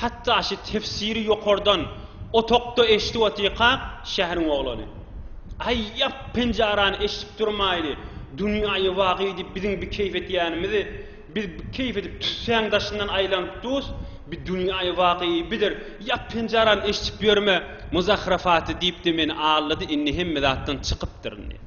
Hatda şu tefsiri ýokardan otagda eşidip otyrkak şäheriň oglany, Aý, ýap, penjarany eşidip durmaýly, dünýäýi wagy diýip biziň bi keýp edýänimizi, biz bi keýp edip tüssäň daşyndan aýlanyp durus, bi dünýäýi wagy bidir, ýap penjarany eşidip ýörme, muzahrafaty diýip-de meni aldady, indi hemme zatdan çykypdyryn diýip.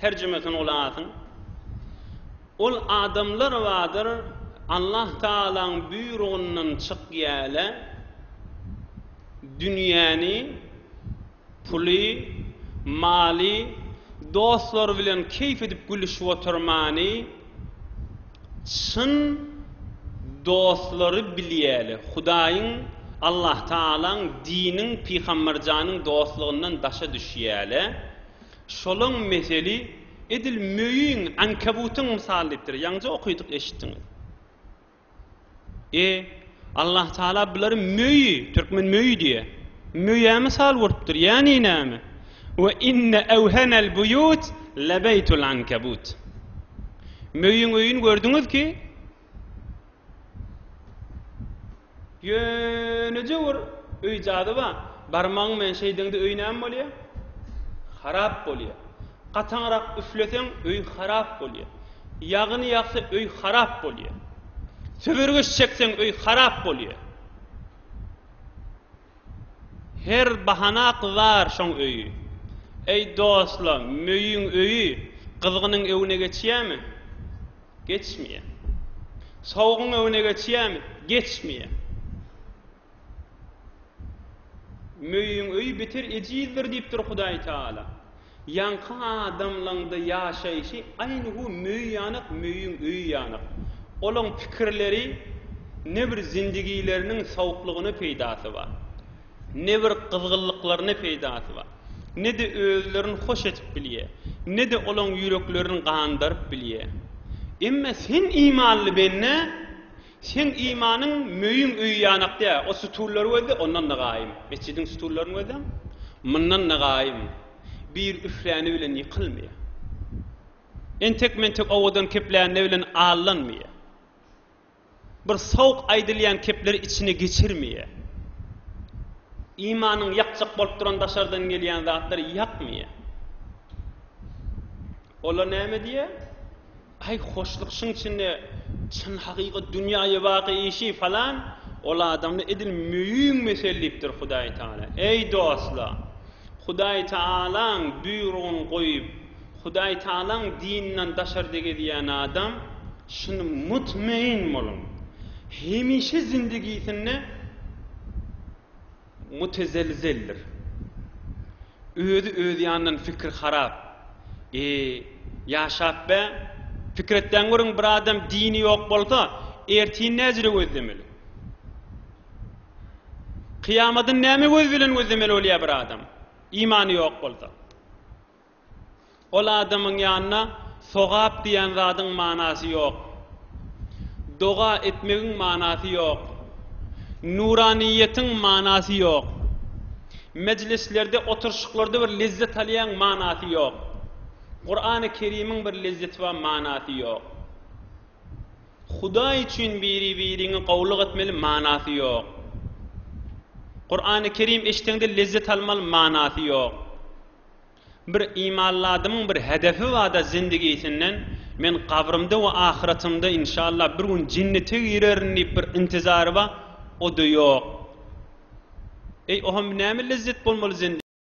Terjimesini gulasyň. Ol adamlar bardyr, Allah Tagalaň buýrugyndan çykýale, dünýäni, puly, maly, dostlary bilen keýp edip gülüşip oturmany, Çyn dostlary bilýäli, Hudaýyň, Allah Tagalaň, diniň, Pygamberjanyň dostlugyndan daşa düşýäli. Şolaň meseli edil möýüň, ankabutyň mysaly diýipdir. Ýaňja okydyk, eşitdiňiz. E, Allah Taala bulary möýi, türkmen möýi diýýä, möýä mysal urupdyr, ýagny näme? Ve inne evhenel buyut lebeytul ankebut. Möýüň öýüni gördüňiz ki, ýöneje bir öý jady bar. Barmagyň bilen şeýdiňde öý näme bolýar? Harap bolýar. Gataňrak üfleseň öý harap bolýar. Ýagyny ýagsa öý harap bolýa. Söwergeç çekseň öý harap bolýa. Her bahana gyzar şoň öýi. Eý dostlar, möýüň öýi gyzgynyň öwüne geçýämi? Geçmeýä. Sowugyň öwüne geçýämi? Geçmeýä. Möýüň öýi beter ejizdir diýipdir Hudaý Taala. Ýaňky adamlaňda ýaşaýşy aýny bu möý ýanak möýüň öýi ýanak. Olaň pikirleri ne bir zindigileriniň sawuklygyna peýdasy bar. Ne bir gyzgynlyklaryna peýdasy bar. Ne-de özlerini hoş edip bilýä. Ne-de olaň ýüreklerini gandaryp bilýä. Emma sen imanly bende. Seň imanyň möýüň öýi ýanakda, o sütünler gözle, ondan-da gaýym. Metjidiň sütünlerini gözläň, mundan-da gaýym. Bir üfläni bilen ýykylmaýar. Entek-mentek owadan keplände bilen allanmaýar. Bir sowuk aýdylýan kepleri içine geçirmeýär. Imanyňy ýakjak bolup duran daşardan gelýän zatlar ýakmaýar. Olar näme diýýär? Aý hoşluk şyň içinde çyn hakyky dünýaýy waky işi falan ol adamda edil möýüň mesel diýipdir Hudaý Taala. Eý dostlar! Hudaý Taalaň buýrugyny goýup Hudaý Taalaň dininden daşarda gezýän adam şyn mutmain boluň hemişe zindigisinde Mutezelzeldir. Özi öz ýanyndan pikir harap. E, ýaşap bä? Pikir etdäň görüň bir adam dini ýok bolsa, ertin näjire gözlemeli? Kyýamadyny näme göz bilen gözlemeli bolýar bir adam, imany ýok bolsa? Ol adamyň ýanyna sogap diýen zadyň manasy ýok. Doga etmegiň manasy ýok. Nuranyýetiň manasy ýok. Mejlislerde, oturyşyklarda bir lezzet alýaň, manasy ýok. Kurany Kerimiň bir lezzeti bar, manasy ýok. Hudaý üçin biri-biriňi gowulyk etmeli, manasy ýok. Kurany Kerim eşdeňde lezzet almaly, manasy ýok. Bir imanly adamyň bir hedefi barda zindigisinden men gabrymda we ahyratymda inşallah bir gün jennete girerin diýip bir intizary bar, o-da ýok. Eý ohamb näme lezzet bolmaly zindigä.